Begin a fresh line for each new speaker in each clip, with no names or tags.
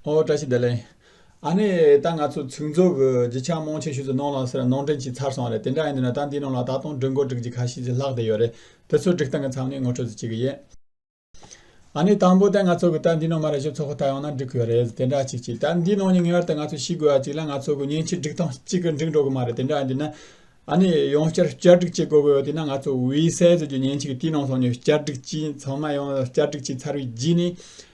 ཨོ་བཀྲ་ཤིས་བདེ་ལེགས། ཨ་ནེ། ད་ང་ཚོ་ཚིག་མཛོད་ཀྱི་བརྗིད་ཆགས་རྨོངས་ཆེན་ཤུལ་དུ་གནོངས་ལགས་ཟེར་ན་གནོངས་དྲན་གྱིས་ཚར་སོང་བ་རེད་དེ་འདྲ་ཡིན་དུས་ན་ད་འདིའི་ནང་ལ་ད་དུང་སྒྲིག་འགོ་སྒྲིག་བྱེད་ཁ་ཤས་ཀྱི་ལྷག་བསྡད་ཡོད་རེད་དེ་ཚོ་སྒྲིག་སྟངས་ཀྱི་མཚམས་ནས་ངོ་སྤྲོད་ཟེར་གྱི་ཡོད། ཨ་ནེ། དང་པོ་ད་ང་ཚོ་གི་ད་འདིའི་ནང་མ་རེ་ཞོ་ཚོགས་ཁོ་ཐག་ཡོང་ན་འགྲིག་གི་ཡོད་རེད་དེ་འདྲ་ཅིག་ཅིག་ད་འདིའི་ནང་ནས་ངེས་བར་དུ་ང་ཚོ་ཤི་དགོས་བ་ཅིག་ལ་ང་ཚོ་གི་མཉེན་ཆས་སྒྲིག་སྟངས་གཅིག་གི་འགྲིག་འགྲོ་གི་མ་རེད་དེ་འདྲ་ཡིན་དུས་ན་ཨ་ནེ། ཡང་བསྐྱར་བསྐྱར་སྒྲིག་བྱེད་དགོས་གི་ཡོད་དུས་ན་ང་ཚོ་དབུས་སའི་གཙོས་ཀྱི་མཉེན་ཆས་ཀྱི་དུས་ནང་སོང་ནས་བསྐྱར་སྒྲིག་གྱིས་ཚང་མ་ཡང་བསྐྱར་སྒྲིག་བྱས་ཚར་བའི་རྗེས་ནས་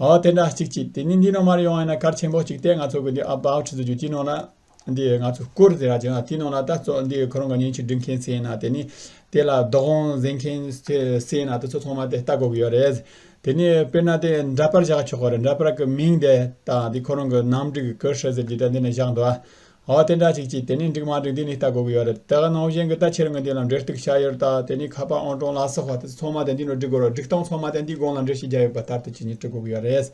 ཨོ་དེ་འདྲ་གཅིག་གཅིག་དེ་ནི་འདི་ནང་མར་ཡོང་བས་ན་སྐར་ཆེན་པོ་གཅིག་སྟེ་ང་ཚོ་གི་འདི about ཆུ་ཚོད་བཅུ་གཅིག་ནང་ན་འདི་ང་ཚོ་སྐོར་དེ་ར་བྱེད་ན་དེའི་ནང་ན་ལྟ་ཚོགས་འདི་ཁོ་རང་གི་ཉིན་ཞིག་སྒྲིག་མཁན་ཚེ་ན་དེ་ནི་དེ་ལ་རྡོག་རོང་གཟེངས་མཁན་ཚེ་ན་དེ་ཚོ་ཚང་མ་དེ་ལྟ་དགོས་གི་ཡོད་རེད། དེ་ནི་དཔེར་ན་དེ་འདྲ་པར་བཞག་ཆོག་གི་རེད་འདྲ་པར་གི་མིང་དེ་དང་དེ་ཁོ་རང་གི་ནང་སྒྲིག་གི་སྐུ་ཧྲི་ཟེར་གྱི་དེ་འདི་ནས་བཞག་འདུག་ཨོ་དེ་འདྲ་ཞིག་ཅི་དེ་ནས་འགྲིག་མ་འགྲིག་འདི་ནས་ལྟ་དགོས་ཀྱི་ཡོད་རེད་དེ་ནང་བཞིན་གྱི་ལྟ་ཕྱིར་ངོས་འདི་ལ་འབྲེལ་གཏུག་བྱ་ཡོད་རེད་དེ་ནས་ཁ་པར་ཨང་གྲངས་ལ་སོགས་པ་དེ་ཚོ་ཚང་མ་དེ་འདི་ནས་འབྲི་དགོས་རེད་སྒྲིག་སྟངས་ཚང་མ་དེ་འདིའི་སྒང་ལ་འབྲི་ཞིག་རྒྱ་ཡོད་པ་ལྟར་དེ་ཇི་སྙེད་བྲི་དགོས་ཀྱི་ཡོད་རེད།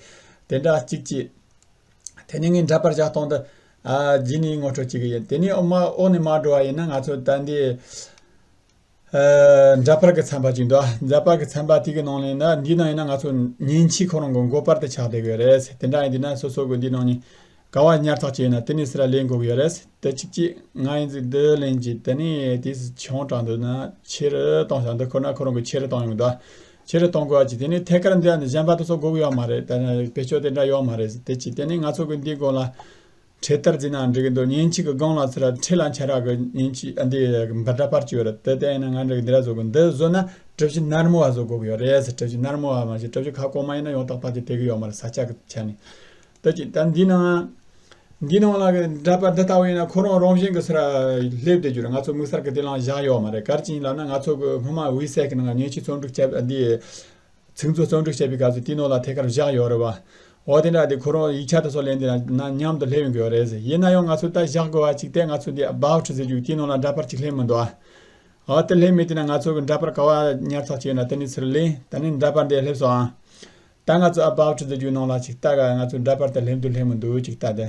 དེ་འདྲ་ཅིག་ཅི། དེ་ནས་ངས་འདྲ་པར་བཞག་སྟངས་འདི། ཨ། ཇི་ནས་ངོ་སྤྲོད་བྱེད་ཀྱི་ཡིན་དེ་ནས་ཨོ་མ་ཨོ་ནས་མར་འགྲོ་བ་ཡིན་ན་ང་ཚོ་ད་འདི། འདྲ་པར་གྱི་ཚན་པ་ཅིག་འདུག་འདྲ་པར་གྱི་ཚན་པ་དེ་གི་ནང་ནས་ནི་འདིའི་ནང་ཡིན་ན་ང་ཚོ་ཉིན་གཅིག་ཁོ་རང་གི་མགོ་པར་དུ་ཆགས་བསྡད་དགོས་རེད་དེ་འདྲ་ཡིན་དུས་ན་སོ་སོ་གི་འདིའི་ནང་ནས་ག་བ་ཉར་ཚགས་བྱས་ན་དེ་ནས་སི་ར་ལས་འགོ་གི་ཡོད་རེད་དེ་གཅིག་གཅིག་ང་ཡིན་དུས་འདི་ལན་གཅིག་དེ་ནས་དེ་སི་ཆང་དྲག་འདུག་ན་ཕྱི་རུ་གཏོང་བཞག་འདི་ཁོ་ན་ཁོ་རང་གི་ཕྱི་རུ་གཏོང་ཡོང་དུས་ཕྱི་རུ་གཏོང་དགོས་ཅིག་དེ་ནས་ཐད་ཀར་འདི་ཡང་གཞན་པ་དེ་ཚོ་འགོ་གི་ཡོད་མ་རེད་དེ་ཕེ་ཆོ་དེ་འདྲ་ཡོད་མ་རེད་དེ་གཅིག་དེ་ནས་ང་ཚོ་གི་འདིའི་སྒོ་ལ། འཕྲེད་དར་འཛིན་ན་འགྲིག་འདུག་ཉིན་གཅིག་གི་སྒང་ལ་ཚེ་རབས་འཕྲེད་ལ་འཆར་ག་གི་ཉིན་གཅིག་འདི་འབར་འདྲ་པར་བྱོས་རེད་དེ་ལྟས་ཡིན་ན་ང་འགྲིག་འདི་ར་བཟོ་དགོས་འདི་བཟོ་ན་གྲུ་བཞི་ནར་མོ་བ་བཟོ་དགོས་གི་ཡོད་རེད་ཟེར་གྲུ་བཞི་ནར་མོ་བ་མ་བྱེད་གྲུ་བཞི་ཁ་ལྐོག་མ་ཡིན་ན་ཡོང་ཏག་ཏག་གི་དེ་གི་ཡོད་མ་རེད་ས་ཆ་གི་ཆ་ནས་བལྟ་ཅིག་ད་འདི་ནང་འདི་ནང་ལ་གི་འདྲ་པར་འདི་ལྟ་བུ་ཡིན་ན་ཁོ་རང་རང་བཞིན་གི་ཚེ་ར་སླེབས་བསྡད་རྒྱུ་རེད་ང་ཚོ་དམིགས་བསལ་གི་དེ་ལང་བཞག་ཡོད་མ་རེད་གར་གྱི་ཡིན་ལབ་ན་ང་ཚོ་གི་སྔོན་མ་དབུས་སའི་གི་ནང་ཉིན་གཅིག་ཚོགས་འདུ་བྱས་པ་འདི་ཚིག་མཛོད་གཙང་སྒྲུག་བྱས་པའི་སྐབས་སུ་ཏི་ནོ་ལ་ཐད་ཀར་བཞག་ཡོད་རེད་བ། འོ་དེ་འདྲ་དེ་ཁོ་རང་ཡིག་ཆ་དང་སོགས་ལེན་དུས་ན་མཉམ་དུ་སླེབས་ཡོང་གི་ཡོད་རེད། ཡིན་ན་ཡང་ང་ཚོས་ད་བཞག་དགོས་བ་ཅིག་སྟེ་ང་ཚོས་དེ་སྦག་ཁྲི་ཟེར་རྒྱུ་ཏི་ནོ་ལ་འདྲ་པར་ཅིག་སླེབས་མི་འདུག་ཨ། འོ་དེ་སླེབས་མེད་དུས་ན་ང་ཚོ་གི་འདྲ་པར་ག་བ་ཉར་ཚགས་བྱས་ཡོད་ན་དེ་ནས་ཚུར་ལེན་ད་ནི་འདྲ་པར་འདི་སླེབས་སོང་ཨང། ད་ང་ཚོས་ཨ་སྦག་ཁྲི་ཟེར་རྒྱུའི་ནང་ལ་ཅིག་ལྟ་ག་ང་ཚོས་འདྲ་པར་དེ་སླེབས་འདུག་སླེབས་མི་འདུག་ཅིག་ལྟ་དེ།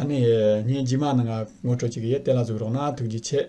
ཨ་ནེ། ངས་འཇིགས་མ་ནང་ང་ངོ་སྤྲོད་ཅིག་གི་ཡས་གཏེ་ལ་ཟུག་རོགས་ན་ཐུགས་རྗེ་ཆེ།